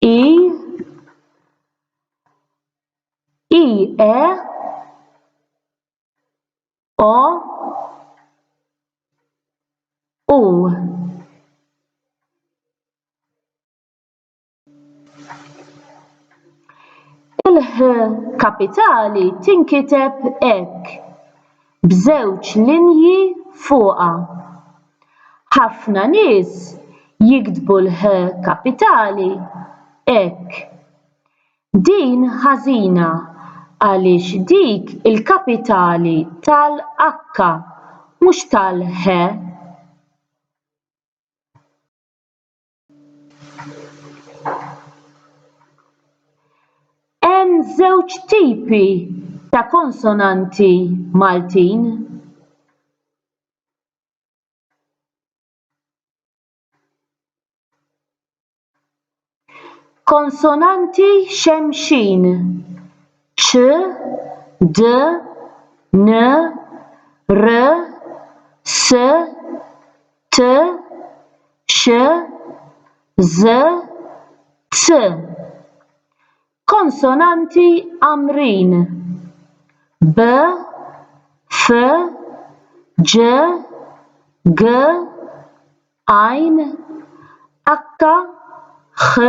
i i e o u il-ħ kapitali tinkiteb hekk b'żewġ linji fuqha. Ħafna nies jiktbu l-h kapitali hekk. Din ħażina għaliex dik il-kapitali tal-h mhux tal-he. Hemm żewġ tipi ta' konsonanti Maltin. Konsonanti xemxin, ċ, d, n, r, s, t, x, ż, z. Konsonanti għamrin, b, f, ġ, g, għajn, h, ħ,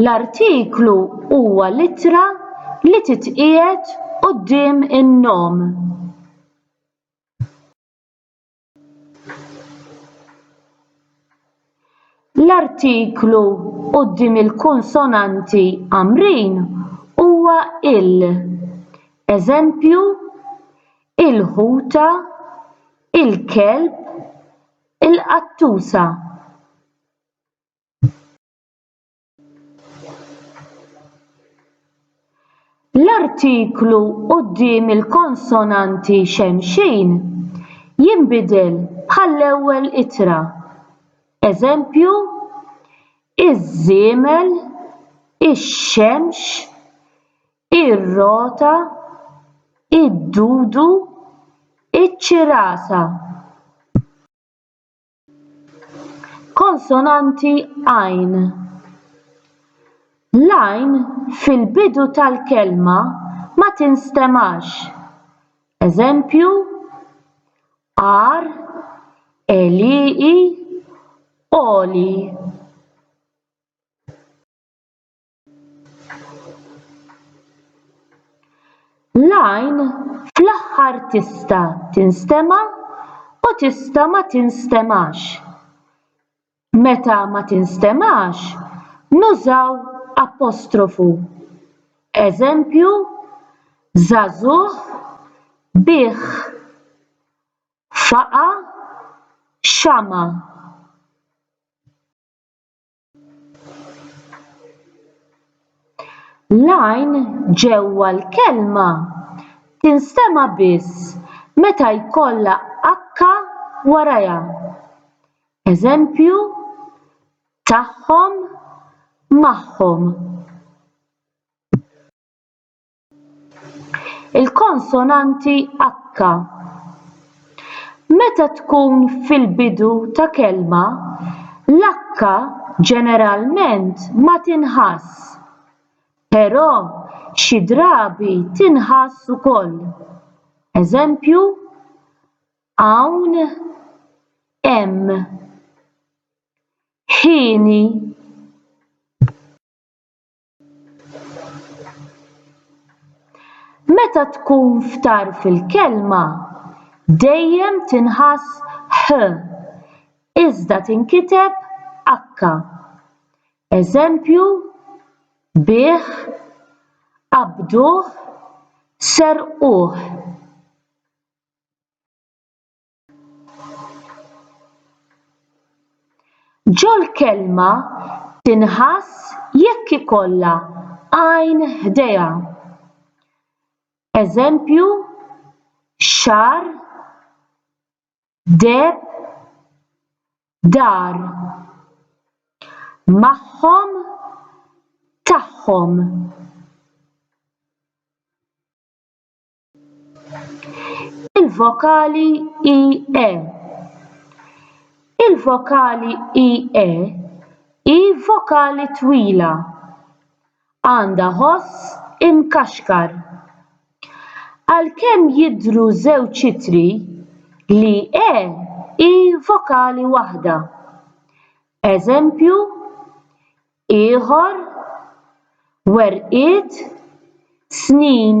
L-artiklu huwa l-ittra li titqiegħed quddiem in-nom. L-artiklu quddiem il-konsonanti Għamrin huwa il. Eżempju, il-ħuta, il-kelb, il-qattusa. L-artiklu quddiem il-konsonanti xemxin jinbidel bħall-ewwel ittra. Eżempju, iż-żiemel, ix-xemx, ir-rota, id-dudu, iċ-ċirasa. Konsonanti għajn. L-għajn fil-bidu tal-kelma ma tinstemax. Eżempju, għar, għelieqi, għoli. L-għajn fl-aħħar tista' tinstema' u tista' ma tinstemax. Meta ma tinstemax nużaw apostrofu. Eżempju, żagħżugħ, bih, faqa', xama'. l-għajn ġewwa l-kelma tinstema' biss meta jkollha h warajha eż. tagħhom magħhom il-konsonanti h meta tkun fil-bidu ta' kelma l-h ġeneralment ma tinħassx però xi drabi tinħass ukoll eż. hawn hemm hieni. Meta tkun f'tarf il-kelma, dejjem tinħass h iżda tinkiteb h. Eżempju, bigħ, qabduh, serquh. Ġol-kelma tinħass jekk ikollha għajn ħdejha. Eżempju, xar, deb, dar. Magħhom, tagħhom. Il-vokali IE Il-vokali IE hi vokali twila. Għandha ħoss imkaxkar. Għalkemm jidhru żewġ ittri, l-IE hi vokali waħda. Eżempju, ieħor, werqiet, snin.